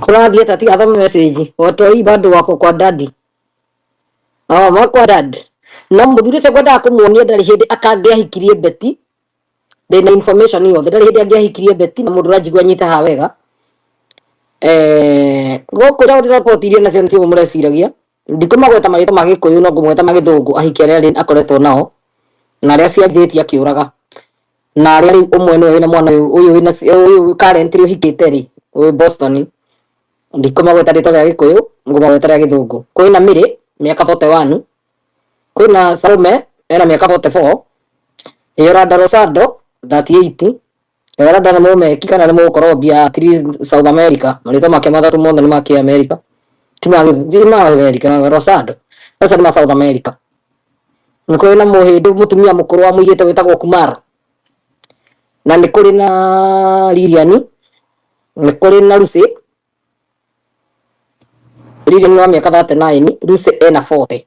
Kũrathiĩ atĩa tiga thome message. Watoi bado wako kwa daddy. Oh, makwa dad. Na mũthuri ũcio ngwendaga kũmuonia ndarĩ hĩndĩ akangĩahikirie beti. Ndĩna information yothe. Ndarĩ hĩndĩ angĩahikirie beti na mũndũ ũranjigua nyite haha wega. Eh, gũkũ Saudi support iria nacio nĩ cio mũreciragia. Ndikũmagweta marĩtwa ma Gĩkũyũ no ngũmweta ma Gĩthũngũ ahiki arĩa rĩu akoretwo nao na arĩa aciarithĩtie akĩũraga na arĩa rĩu ũmwe nĩwe wĩna mwana ũyũ ũyũ wĩna ũyũ current rĩu ũhikĩte rĩ wĩ Boston ndikũmagweta rĩtwa rĩa Gĩkũyũ ngũmagweta rĩa Gĩthũngũ kwĩna Mĩrĩ mĩaka 41 kwĩna Salome ena mĩaka 44 Yoranda Rosado 38 Eranda nĩ mũmeki kana nĩ mũkorombia at least South America marĩtwa make matatũ mothe nĩ ma kĩ America ti ma gĩ- ti ma America Rosado acio nĩ ma South America nĩ kũrĩ na mũhĩndĩ mũtumia mũkũrũ wa mũirĩtu wĩtagwo Kumar na nĩ kũrĩ na Lilian nĩ kũrĩ na Lucy Riri nĩ wa mĩaka 39, Lucy ena 40.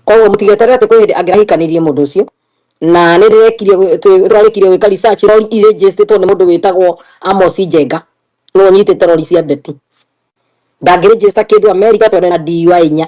Koguo mũtigeterere atĩ kwĩ hĩndĩ angĩrahikanirie mũndũ ũcio na nĩ ndĩrekire gwĩ- twĩ- tũrarĩkirie gwĩka research rori irĩ njĩstĩtwo nĩ mũndũ wĩtagwo Amos Njenga nĩwe ũnyitĩte rori cia Betty ndangĩrĩnjĩsta kĩndũ Amerika tondũ ena DUI inya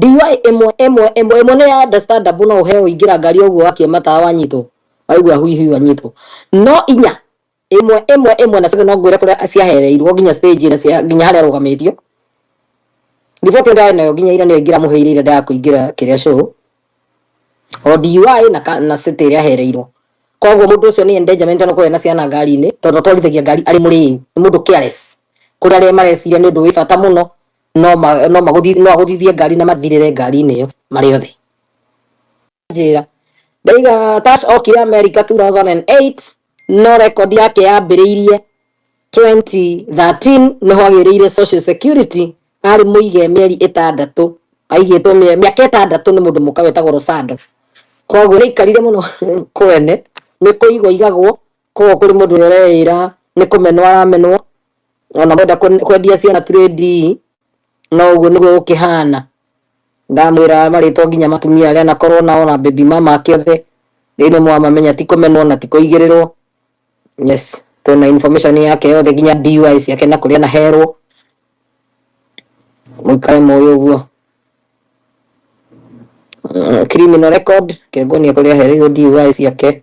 DUI ĩmwe ĩmwe ĩmwe ĩmwe nĩ ya understandable no ũheo ingĩra ngari o ũguo wakie matawa wanyitwo waigua hui hui wanyitwo no inya ĩmwe ĩmwe ĩmwe na cio no ngwĩre kũrĩa ciahereirwo nginya stage ĩrĩa cia nginya harĩa arũgamĩtio riboti ĩrĩa ndĩrarĩ nayo nginya ira nĩyo ingĩramũheire ira ndaga kũingĩra kĩrĩa show o DUI na ka- na city ĩrĩa ahereirwo koguo mũndũ ũcio nĩ endangerment no kũrĩa na ciana ngari-inĩ tondũ atwarithagia ngari arĩ mũrĩu nĩ mũndũ careless kũrĩ arĩa mareciria nĩ ũndũ wĩ bata mũno no ma- no magũthi- no agũthithie ngari na mathirĩre ngari-inĩ ĩyo marĩ othe njĩra ndaiga tash okire america 2008 no record yake yambĩrĩirie 2013 nĩho agĩrĩire social security arĩ mũige mĩeri ĩtandatũ aigĩtwo mĩe- mĩaka ĩtandatũ nĩ mũndũ mũka wetagwo rosado koguo nĩaikarire mũno kwene nĩ kũigwo igagwo koguo kũrĩ mũndũ ũreĩra nĩ kũmenwo aramenwo ona mwenda kwen- kwendia ciana turĩ ndii no ũguo nĩguo gũkĩhana ndamwĩra marĩtwo nginya matumia arĩa nakorwo nao na baby mama ake othe rĩu nĩ mwamamenya ti kũmenwo na ti kũigĩrĩrwo yes twĩna information yake yothe nginya DUI ciake na kũrĩa naherwo mũikare mũĩ ũguo Mm, criminal record kĩongonia kũrĩa ahereirwo DUI ciake